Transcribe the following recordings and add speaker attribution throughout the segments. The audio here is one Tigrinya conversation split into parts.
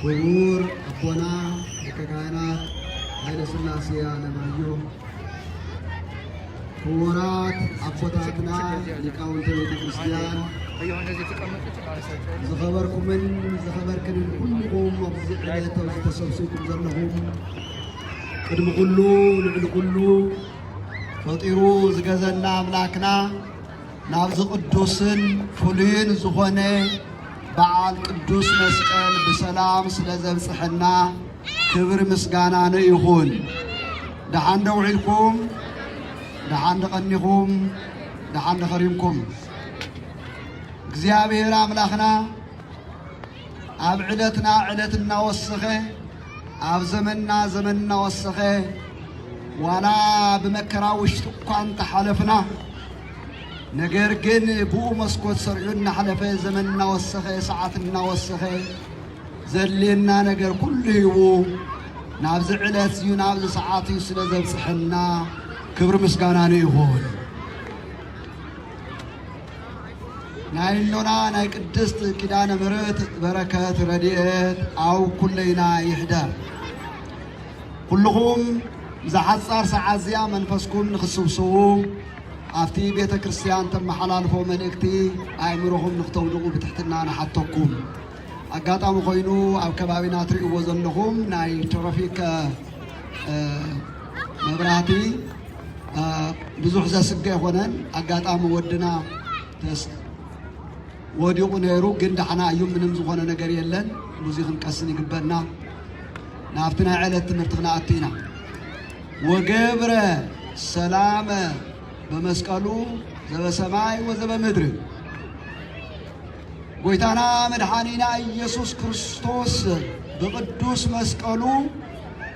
Speaker 1: ክቡር ኣቦና ሊቀ ካህናት ሃይለስላሴ ኣለማየሁ፣ ክቡራት ኣቦታትና ሊቃውንተ ቤተ ክርስቲያን፣ ዝኸበርኩምን ዝኸበርክንን ኩልኹም ኣብዚ ዕለት ኣብዚ ተሰብሲብኩም ዘለኹም፣ ቅድሚ ኩሉ ልዕሊ ኩሉ ፈጢሩ ዝገዘና ኣምላክና ናብዚ ቅዱስን ፍሉይን ዝኾነ በዓል ቅዱስ መስቀል ብሰላም ስለ ዘብጽሐና ክብር ምስጋና ንይኹን። ደሓን ዶ ውዒልኩም? ደሓን ድቐኒኹም? ደሓን ድኸሪምኩም? እግዚኣብሔር ኣምላኽና ኣብ ዕለትና ዕለት እናወሰኸ ኣብ ዘመንና ዘመን እናወሰኸ ዋላ ብመከራ ውሽጢ እኳ እንተሓለፍና ነገር ግን ብኡ መስኮት ሰርዑ እናሓለፈ ዘመን እናወሰኸ ሰዓት እናወሰኸ ዘድልየና ነገር ኩሉ ሂቡ ናብዚ ዕለት እዩ ናብዚ ሰዓት እዩ ስለ ዘብፅሐና ክብሪ ምስጋና ንይኹን። ናይ እኖና ናይ ቅድስት ኪዳነ ምሕረት በረከት ረድኤት ኣብ ኩለይና ይሕደር። ኩልኹም ብዝሓጻር ሰዓት እዚኣ መንፈስኩም ንክስብስቡ ኣብቲ ቤተ ክርስቲያን ተመሓላልፎ መልእክቲ ኣእምሮኹም ንክተውድቑ ብትሕትና ንሓተኩም። ኣጋጣሚ ኮይኑ ኣብ ከባቢና ትርእይዎ ዘለኹም ናይ ትራፊክ መብራህቲ ብዙሕ ዘስግእ ኣይኮነን። ኣጋጣሚ ወድና ወዲቑ ነይሩ፣ ግን ዳሕና እዩ። ምንም ዝኾነ ነገር የለን። ብዙ ክንቀስን ይግበና። ናብቲ ናይ ዕለት ትምህርቲ ክንኣቱ ኢና። ወገብረ ሰላመ በመስቀሉ ዘበሰማይ ወዘበምድሪ ጎይታና መድሓኒና ኢየሱስ ክርስቶስ ብቅዱስ መስቀሉ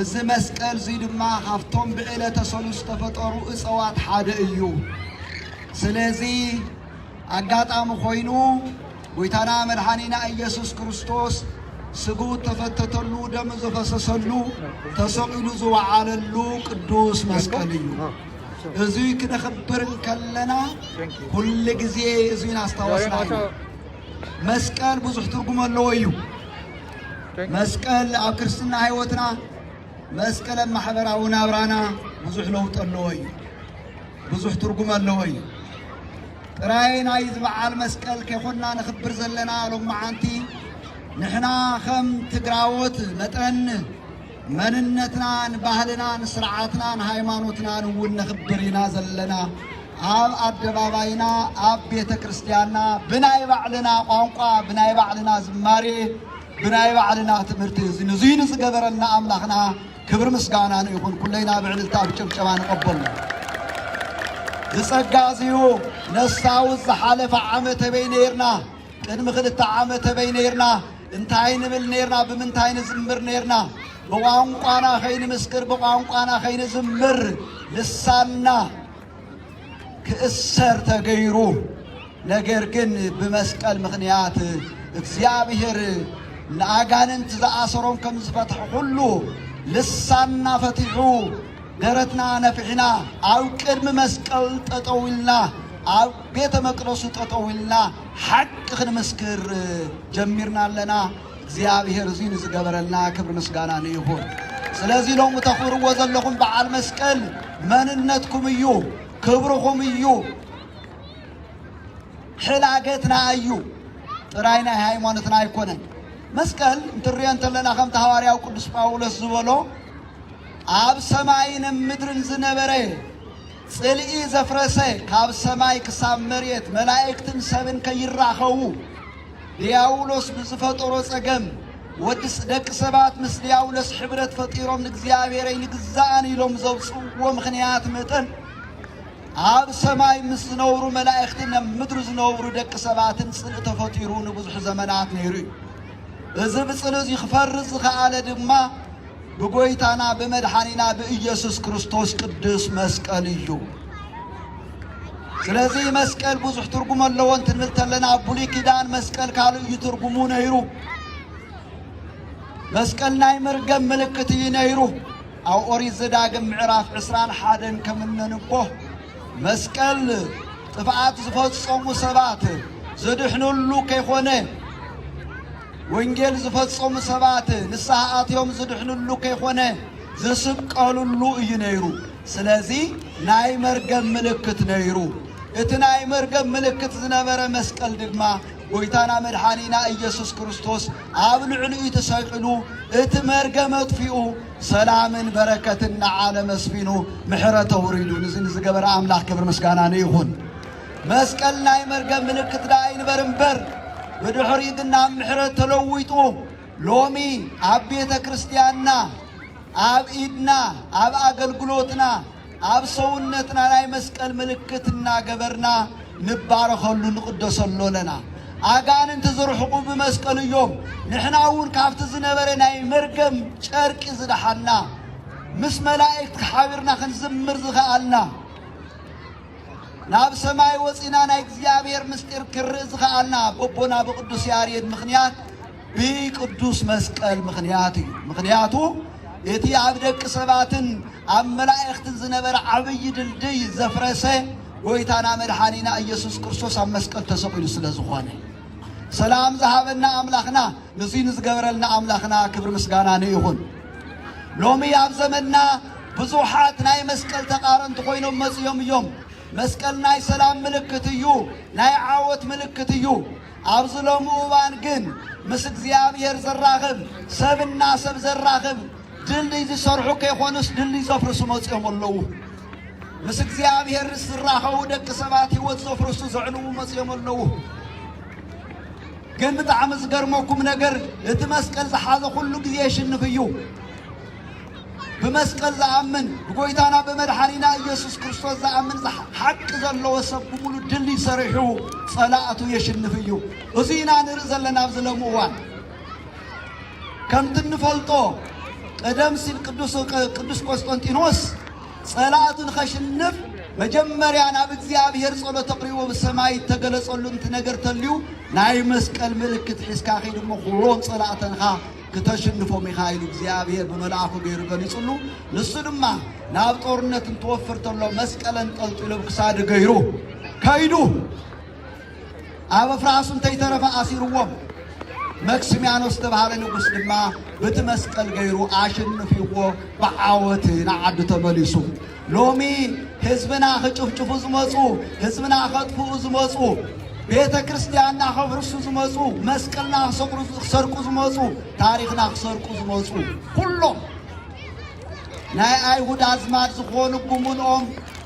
Speaker 1: እዚ መስቀል እዙይ ድማ ካብቶም ብዕለተ ሰሉስ ዝተፈጠሩ እፀዋት ሓደ እዩ። ስለዚ ኣጋጣሚ ኮይኑ ጎይታና መድሓኒና ኢየሱስ ክርስቶስ ስግኡ ተፈተተሉ ደም ዘፈሰሰሉ ተሰቂሉ ዝወዓለሉ ቅዱስ መስቀል እዩ። እዙይ ክነኽብር እንከለና ኩሉ ግዜ እዙይ ናስታወስና እዩ። መስቀል ብዙሕ ትርጉም ኣለዎ እዩ። መስቀል ኣብ ክርስትና ህይወትና መስቀል ኣብ ማሕበራዊ ናብራና ብዙሕ ለውጢ ኣለዎ እዩ። ብዙሕ ትርጉም ኣለዎ እዩ። ጥራይ ናይ ዝበዓል መስቀል ከይኮንና ንኽብር ዘለና ሎማዓንቲ ንሕና ከም ትግራዎት መጠን መንነትናን ባህልናን ስርዓትናን ሃይማኖትናን እውን ነኽብር ኢና ዘለና። ኣብ ኣደባባይና ኣብ ቤተ ክርስቲያንና ብናይ ባዕልና ቋንቋ ብናይ ባዕልና ዝማሬ ብናይ ባዕልና ትምህርቲ እዚ ንዙይ ንዝገበረልና ኣምላኽና ክብሪ ምስጋና ንይኹን ኩለይና ብዕልልታ ብጭብጨባ ንቐበሎ ዝጸጋ እዚዩ ነሳውዝ ዝሓለፈ ዓመተ በይ ነይርና ቅድሚ ክልተ ዓመት ኣበይ ነይርና፣ እንታይ ንብል ነይርና፣ ብምንታይ ንዝምር ነይርና፣ ብቋንቋና ከይንምስክር፣ ብቋንቋና ከይንዝምር ልሳንና ክእሰር ተገይሩ። ነገር ግን ብመስቀል ምኽንያት እግዚኣብሔር ንኣጋንንት ዝኣሰሮም ከም ዝፈትሐ ኩሉ ልሳንና ፈቲሑ ደረትና ነፊሕና ኣብ ቅድሚ መስቀል ጠጠው ኢልና ኣብ ቤተ መቅደሱ ጠጠው ኢልና ሓቂ ክንምስክር ጀሚርና ኣለና። እግዚኣብሔር እዙይ ንዝገበረልና ክብሪ ምስጋና ንይኹን። ስለዚ ሎሚ ተኽብርዎ ዘለኹም በዓል መስቀል መንነትኩም እዩ፣ ክብርኹም እዩ፣ ሕላገትና እዩ ጥራይ ናይ ሃይማኖትና ኣይኮነን። መስቀል እንትርዮ እንተለና ከምቲ ሃዋርያው ቅዱስ ጳውሎስ ዝበሎ ኣብ ሰማይን ምድርን ዝነበረ ጽልኢ ዘፍረሰ ካብ ሰማይ ክሳብ መሬት መላእክትን ሰብን ከይራኸቡ ድያውሎስ ብዝፈጠሮ ጸገም ወዲ ደቂ ሰባት ምስ ድያውሎስ ሕብረት ፈጢሮም ንእግዚኣብሔር ኣይንግዛእን ኢሎም ዘውጽእዎ ምኽንያት መጠን ኣብ ሰማይ ምስ ዝነብሩ መላእክትን ኣብ ምድሪ ዝነብሩ ደቂ ሰባትን ጽልእ ተፈጢሩ ንብዙሕ ዘመናት ነይሩ እዩ። እዚ ብጽልእ እዚ ክፈርስ ዝኸኣለ ድማ ብጎይታና ብመድሓኒና ብእየሱስ ክርስቶስ ቅዱስ መስቀል እዩ። ስለዚ መስቀል ብዙሕ ትርጉም ኣለዎ እንትንብል ተለና ኣብ ብሉይ ኪዳን መስቀል ካልእ እዩ ትርጉሙ ነይሩ። መስቀል ናይ መርገም ምልክት እዩ ነይሩ። ኣብ ኦሪት ዘዳግም ምዕራፍ ዕስራን ሓደን ከም እነንቦ መስቀል ጥፍኣት ዝፈጸሙ ሰባት ዘድሕንሉ ከይኮነ ወንጌል ዝፈጸሙ ሰባት ንስሓ ኣትዮም ዝድሕንሉ ከይኮነ ዝስቀልሉ እዩ ነይሩ። ስለዚ ናይ መርገም ምልክት ነይሩ። እቲ ናይ መርገም ምልክት ዝነበረ መስቀል ድማ ጎይታና መድሓኒና ኢየሱስ ክርስቶስ ኣብ ልዕሊኡ ተሰቂሉ እቲ መርገም ኣጥፊኡ ሰላምን በረከትን ንዓለም ኣስፊኑ ምሕረት ኣውሪዱ ንዚ ንዝገበረ ኣምላኽ ክብሪ ምስጋና ንይኹን። መስቀል ናይ መርገም ምልክት ደኣ ኣይንበር እምበር ብድሕሪኡ ግን ናብ ምሕረት ተለዊጡ ሎሚ ኣብ ቤተ ክርስቲያንና ኣብ ኢድና ኣብ ኣገልግሎትና ኣብ ሰውነትና ናይ መስቀል ምልክት እናገበርና ንባረኸሉ ንቕደሰሉ ኣለና። ኣጋንንቲ ዝርሕቑ ብመስቀል እዮም። ንሕና እውን ካብቲ ዝነበረ ናይ መርገም ጨርቂ ዝደሓና ምስ መላእክቲ ሓቢርና ክንዝምር ዝኸኣልና ናብ ሰማይ ወጺና ናይ እግዚኣብሔር ምስጢር ክርኢ ዝኸኣልና በቦና ብቅዱስ ያሬድ ምኽንያት ብቅዱስ መስቀል ምኽንያት እዩ። ምኽንያቱ እቲ ኣብ ደቂ ሰባትን ኣብ መላእኽትን ዝነበረ ዓብዪ ድልድይ ዘፍረሰ ጎይታና መድሓኒና ኢየሱስ ክርስቶስ ኣብ መስቀል ተሰቂሉ ስለ ዝኾነ ሰላም ዝሃበና ኣምላኽና ንዙይ ንዝገበረልና ኣምላኽና ክብሪ ምስጋና ንይኹን። ሎሚ ኣብ ዘመንና ብዙሓት ናይ መስቀል ተቃረንቲ ኮይኖም መጺኦም እዮም። መስቀል ናይ ሰላም ምልክት እዩ፣ ናይ ዓወት ምልክት እዩ። ኣብዚ ሎሚ እዋን ግን ምስ እግዚኣብሔር ዘራኽብ ሰብና ሰብ ዘራኽብ ድልድይ ዝሰርሑ ከይኮኑስ ድልድይ ዘፍርሱ መጺኦም ኣለዉ። ምስ እግዚኣብሔር ዝራኸቡ ደቂ ሰባት ህይወት ዘፍርሱ ዘዕንዉ መጺኦም ኣለዉ። ግን ብጣዕሚ ዝገርመኩም ነገር እቲ መስቀል ዝሓዘ ኩሉ ግዜ የሽንፍ እዩ። ብመስቀል ዝኣምን ብጎይታና ብመድሓኒና ኢየሱስ ክርስቶስ ዝኣምን ሓቂ ዘለዎ ሰብ ብምሉ ድል ሰሪሑ ጸላእቱ የሽንፍ እዩ። እዚ ኢና ንርኢ ዘለና ኣብዚ ሎሚ እዋን ከምቲ እንፈልጦ ቀደም ሲል ቅዱስ ቆስጠንጢኖስ ጸላእቱ ንኸሽንፍ መጀመርያ ናብ እግዚኣብሔር ጸሎት ኣቕሪቡ ኣብ ሰማይ እተገለጸሉ እንቲ ነገር ተልዩ ናይ መስቀል ምልክት ሒዝካ ኺድ እሞ ዅሎም ጸላእተንኻ ክተሽንፎም ኢኻ ኢሉ እግዚኣብሔር ብመልኣኹ ገይሩ ገሊጹሉ ንሱ ድማ ናብ ጦርነት እንትወፍር ተሎ መስቀል ኣንጠልጢሉ ኣብ ክሳዱ ገይሩ ከይዱ ኣብ ኣፍራስ እንተ ይተረፈ ኣሲርዎም፣ መክስሚያኖስ ዝተባህለ ንጉስ ድማ ብቲ መስቀል ገይሩ ኣሽንፍዎ ብዓወት ንዓዱ ተመሊሱ። ሎሚ ህዝብና ክጭፍጭፉ ዝመፁ፣ ህዝብና ከጥፍኡ ዝመፁ፣ ቤተ ክርስቲያንና ከፍርሱ ዝመፁ፣ መስቀልና ክሰርቁ ዝመፁ፣ ታሪክና ክሰርቁ ዝመፁ ኩሎም ናይ ኣይሁድ ኣዝማድ ዝኾኑ ጉምንኦም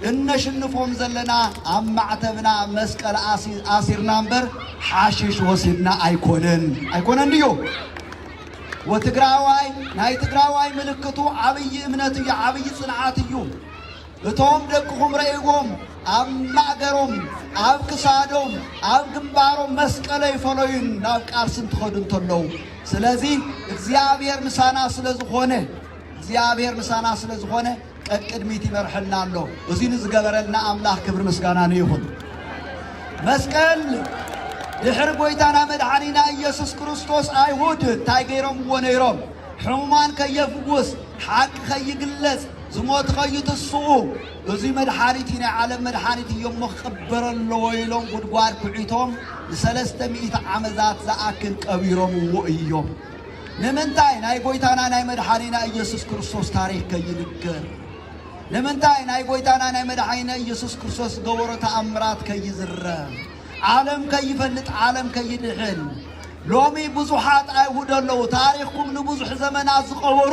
Speaker 1: እነሽንፎም ዘለና ኣብ ማዕተብና መስቀል ኣሲርና እምበር ሓሽሽ ወሲድና ኣይኮነን ኣይኮነን ድዩ ወትግራዋይ ናይ ትግራዋይ ምልክቱ ዓብይ እምነት እዩ ዓብይ ፅንዓት እዩ እቶም ደቅኹም ረእይዎም ኣብ ማእገሮም ኣብ ክሳዶም ኣብ ግንባሮም መስቀለ ይፈለዩን ናብ ቃልሲ እንትኸዱ እንተለዉ ስለዚ እግዚኣብሔር ምሳና ስለ ዝኾነ እግዚኣብሔር ምሳና ስለ ዝኾነ ቀቅድሚት ይመርሐና ኣሎ እዚ ንዝገበረልና ኣምላኽ ክብሪ ምስጋና ንይኹን መስቀል ድሕሪ ጎይታና መድሓኒና ኢየሱስ ክርስቶስ ኣይሁድ እንታይ ገይሮምዎ ነይሮም ሕሙማን ከየፍውስ ሓቂ ከይግለጽ ዝሞት ኸይትስኡ እዙይ መድሓኒት እዩ ናይ ዓለም መድሓኒት እዩ እሞ ክቕበር ኣለዎ ኢሎም ጉድጓድ ኩዒቶም ንሰለስተ ሚእቲ ዓመታት ዝኣክል ቀቢሮምዎ እዮም። ንምንታይ ናይ ጎይታና ናይ መድሓኒና ኢየሱስ ክርስቶስ ታሪክ ከይንገር? ንምንታይ ናይ ጎይታና ናይ መድሓኒና ኢየሱስ ክርስቶስ ዝገበሮ ተኣምራት ከይዝረብ? ዓለም ከይፈልጥ ዓለም ከይድሕን ሎሚ ብዙሓት ኣይሁድ ኣለዉ ታሪኽኩም ንብዙሕ ዘመናት ዝቐበሩ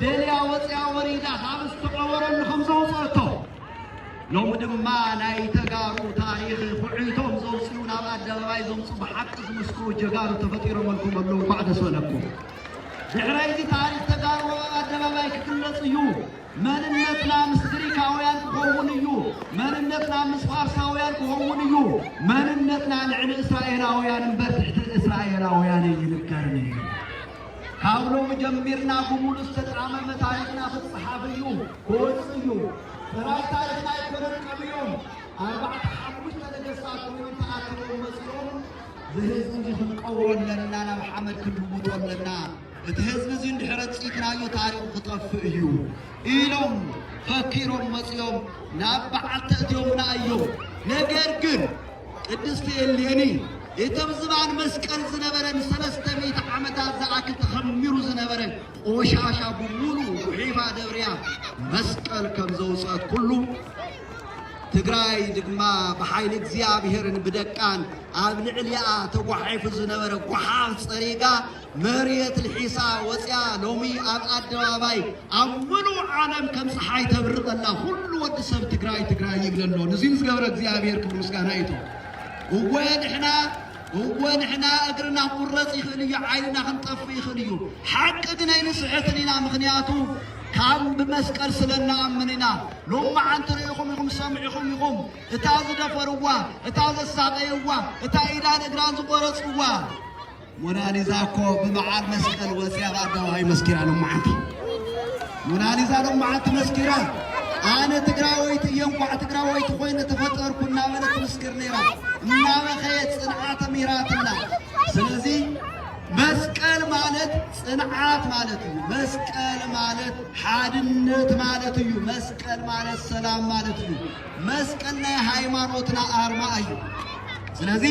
Speaker 1: ደልያ ወፂኣ ወሪዳ ካብ ዝተቐበረሉ ከም ዘውፀአቶ ሎሚ ድማ ናይ ተጋሩ ታሪኽ ኩዕይቶም ዘውፅኡ ናብ ኣደባባይ ዘምፁ ብሓቂ ዝምስክሩ ጀጋኑ ተፈጢሮመልኩም ኣለዉ እንኳዕ ደስ በለኩም ድሕረይዚ ታሪኽ ተጋሩ ኣብ ኣደባባይ ክግለፅ እዩ መንነትና ምስ ግሪካውያን ክኸውን እዩ መንነትና ምስ ፋርሳውያን ክኸውን እዩ መንነትና ልዕሊ እስራኤላውያን እምበር ትሕቲ እስራኤላውያን ኣይንገርን እዩ ካብ ሎሚ ጀሚርና ብሙሉእ ዝተጻመመ ታሪኽና ክጽሓፍ እዩ ክወጽእ እዩ ጥራይ ታሪኽና ኣይኮነን ቀቢኦም ኣርባዕተ ሓሙሽተ ነገስታት ኮይኖም ተኣኪቦም መጺኦም ዝህዝቢ እዚ ክንቀብሮ ኣለና ናብ ሓመድ ክንልውጦ ኣለና እቲ ህዝቢ እዚ እንድሕረ ጽኢትናዮ ታሪኹ ክጠፍእ እዩ ኢሎም ፈኪሮም መጺኦም ናብ በዓል ተእትዮምና እዮም ነገር ግን ቅድስቲ እሌኒ እቶም ዝባን መስቀል ዝነበረ ንሰለስተ ሚእቲ ዓመታት ዝኣክል ተኸሚሩ ዝነበረ ቆሻሻ ብሙሉኡ ጉሒፋ ደብርያ መስቀል ከም ዘውፅአት ኩሉ ትግራይ ድማ ብሓይሊ እግዚኣብሔርን ብደቃን ኣብ ልዕሊኣ ተጓሒፉ ዝነበረ ጓሓፍ ፀሪጋ መርየት ልሒሳ ወጽያ ሎሚ ኣብ ኣደባባይ ኣብ ምሉእ ዓለም ከም ጸሓይ ተብሪ ከላ ኩሉ ወዲ ሰብ ትግራይ ትግራይ ይብል ኣሎ ንዙይ ንዝገበረ እግዚኣብሔር ክብሪ ምስጋና ይቶ እወ ንሕና እወ ንሕና እግርና ክቁረጽ ይኽእል እዩ ዓይንና ክንጠፍእ ይኽእል እዩ ሓቂ ግን ኣይንስሕትን ኢና ምክንያቱ ካብ ብመስቀል ስለ እንኣምን ኢና ሎም መዓንቲ ርኢኹም ኢኹም ሰምዒኹም ኢኹም እታ ዝደፈርዋ እታ ዘሳቀይዋ እታ ኢዳን እግራን ዝቆረጽዋ ሞናሊዛ እኮ ብበዓል መስቀል ወፅያ ብኣደባባይ መስኪራ ሎማዓንቲ ሞናሊዛ ሎማዓንቲ መስኪራ ኣነ ትግራወይቲ እየ እንኳዕ ትግራወይቲ ኮይነ ተፈጠርኩ እናበለት ትምስክር ነይራ እናበኸየት ፅንዓት ምሂራትና ስለዚ መስቀል ማለት ፅንዓት ማለት እዩ መስቀል ማለት ሓድነት ማለት እዩ መስቀል ማለት ሰላም ማለት እዩ መስቀል ናይ ሃይማኖትና ኣርማ እዩ ስለዚ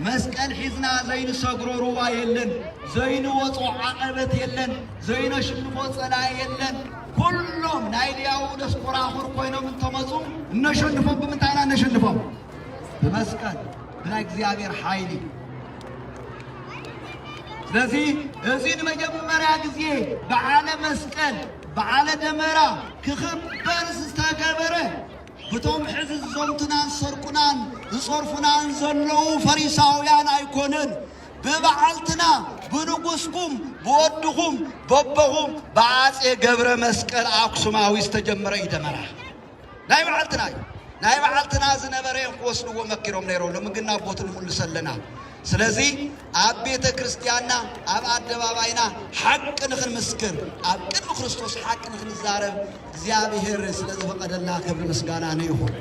Speaker 1: መስቀል ሒዝና ዘይንሰግሮ ሩባ የለን፣ ዘይንወጾ ዓቐበት የለን፣ ዘይነሽንፎ ጸላኢ የለን። ኩሎም ናይ ድያብሎስ ኮራኹር ኮይኖም እንተመጹ እነሸንፎም ብምንታይ ኢና እነሸንፎም? ብመስቀል ብናይ እግዚኣብሔር ሓይሊ። ስለዚ እዚ ንመጀመርያ ግዜ በዓለ መስቀል በዓለ ደመራ ክኽበር ዝተገበረ ብቶም ሕዚ ዝዘምቱናን ዝሰርቁናን ዝጸርፉናን ዘለዉ ፈሪሳውያን ኣይኮነን፣ ብበዓልትና፣ ብንጉስኩም፣ ብወድኹም፣ በቦኹም ብኣጼ ገብረመስቀል ኣክሱማዊ ዝተጀመረ እዩ ደመራ። ናይ በዓልትና እዩ። ናይ በዓልትና ዝነበረ እዮም ክወስድዎ መኪሮም ነይሮም፣ ሎሚ ግን ናብ ቦቱ ንምልሶ ኣለና። ስለዚ ኣብ ቤተ ክርስቲያንና ኣብ ኣደባባይና ሓቂ ንኽንምስክር ኣብ ቅድሚ ክርስቶስ ሓቂ ንኽንዛረብ እግዚኣብሔር ስለ ዝፈቐደልና ክብሪ ምስጋና ንይኹን።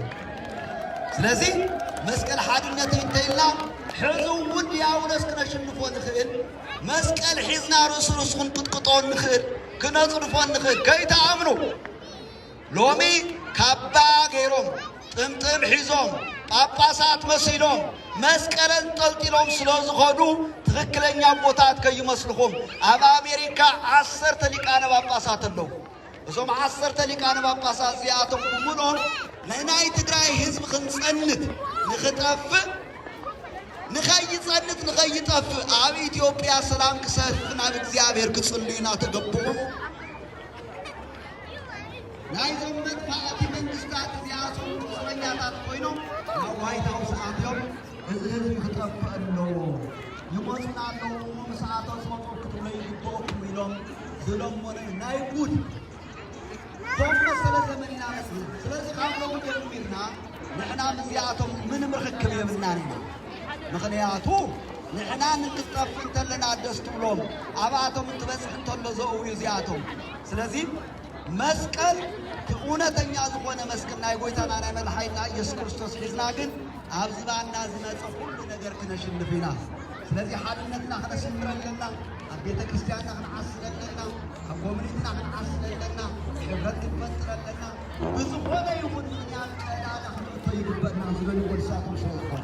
Speaker 1: ስለዚ መስቀል ሓድነተይ እንተይልና ሕዚ እውን ዲያብሎስ ክነሽንፎ ንኽእል መስቀል ሒዝና ርእሱ ርእሱ ክንቅጥቅጦ ንኽእል ክነጽድፎ ንኽእል ከይትኣምኑ ሎሚ ካባ ገይሮም ጥምጥም ሒዞም ጳጳሳት መሲሎም መስቀል ኣንጠልጢሎም ስለ ዝኸዱ ትኽክለኛ ኣቦታት ከይመስልኹም። ኣብ ኣሜሪካ ዓሰርተ ሊቃነ ጳጳሳት ኣለዉ። እዞም ዓሰርተ ሊቃነ ጳጳሳት እዚኣቶም ብምልኦም ንናይ ትግራይ ህዝቢ ክንጸንት ንኽጠፍእ ንኸይጸንት ንኸይጠፍእ ኣብ ኢትዮጵያ ሰላም ክሰፍን ኣብ እግዚኣብሔር ክጽልዩና ተገብኦም። ናይዞም መጥፋእቲ መንግስታት እዚኣቶም ቁስለኛታት ኮይኖም ናብ ዋይት ሃውስ ኣትዮም እዚ ህዝቢ ክጠፍእ ኣለዎ ይመፁና ኣለዉ እሞ ምስ ኣቶ ዝመፁ ክትብሎ ይግበኦኩም ኢሎም ዝለመኑ ናይ ጉድ ቶም መሰለ ዘመን ኢና መስሉ ስለዚ ካብ ሎሚ ጀሚርና ንሕና ምስዚኣቶም ምንም ርክክብ የብልናን ኢና ምክንያቱ ንሕና ንክትጠፍእ እንተለና ደስ ትብሎም ኣብኣቶም እንትበፅሕ እንተሎ ዘእውዩ እዚኣቶም ስለዚ መስቀል እውነተኛ ዝኾነ መስቀል ናይ ጎይታና ናይ መድሓኒትና ኢየሱስ ክርስቶስ ሒዝና ግን ኣብ ዝባና ዝመፀ ኩሉ ነገር ክነሽንፍ ኢና። ስለዚ ሓድነትና ክነስምር ኣለና። ኣብ ቤተ ክርስቲያንና ክንዓስል ኣለና። ኣብ ኮሚኒቲና ክንዓስል ኣለና። ሕብረት ክንፈጥር ኣለና። ብዝኾነ ይኹን ምክንያት ቀዳዳ ክንእቶ ይግበና ዝበልዎ ንሳቶም ስለ ዝኾነ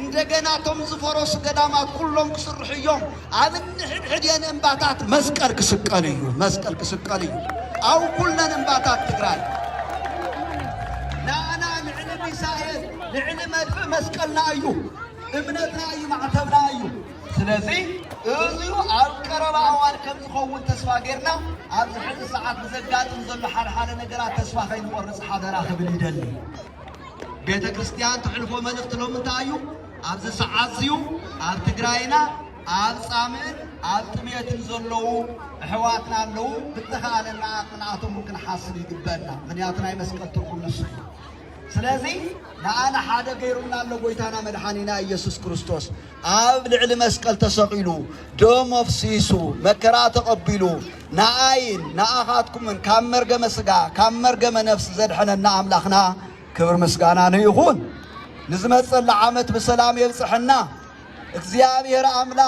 Speaker 1: እንደገና እቶም ዝፈረሱ ገዳማት ኩሎም ክስርሑ እዮም። ኣብ እንሕድሕድየን እምባታት መስቀል ክስቀል እዩ። መስቀል ክስቀል እዩ። ኣብ ኩለን እምባታት ትግራይ ንኣና ልዕሊ ሚሳኤል ልዕሊ መድፍዕ መስቀልና እዩ። እምነትና እዩ። ማዕተብና እዩ። ስለዚ እዙዩ ኣብ ቀረባ እዋን ከም ዝኸውን ተስፋ ጌርና ኣብዚ ሕዚ ሰዓት ብዘጋጥም ዘሎ ሓደሓደ ነገራት ተስፋ ከይንቖርፅ ሓደራ ክብል ይደሊ። ቤተክርስትያን ትሕልፎ መልእኽቲ ሎሚ እንታይ እዩ? ኣብዚ ሰዓት እዚዩ ኣብ ትግራይና ኣብ ጻምእን ኣብ ጥሜትን ዘለዉ ኣሕዋትና ኣለዉ ብተኻእለና ኣቕሚ ንኣቶም ክንሓስብ ይግበአና ምክንያቱ ናይ መስቀል ትርጉም ንሱ እዩ ስለዚ ንኣነ ሓደ ገይሩና ኣሎ ጎይታና መድሓኒና ኢየሱስ ክርስቶስ ኣብ ልዕሊ መስቀል ተሰቒሉ ደሙ ኣፍሲሱ መከራ ተቐቢሉ ንኣይን ንኣኻትኩምን ካብ መርገመ ስጋ ካብ መርገመ ነፍሲ ዘድሐነና ኣምላኽና ክብር ምስጋና ንይኹን። ንዝመጸላ ዓመት ብሰላም የብጽሐና እግዚኣብሔር ኣምላኽ።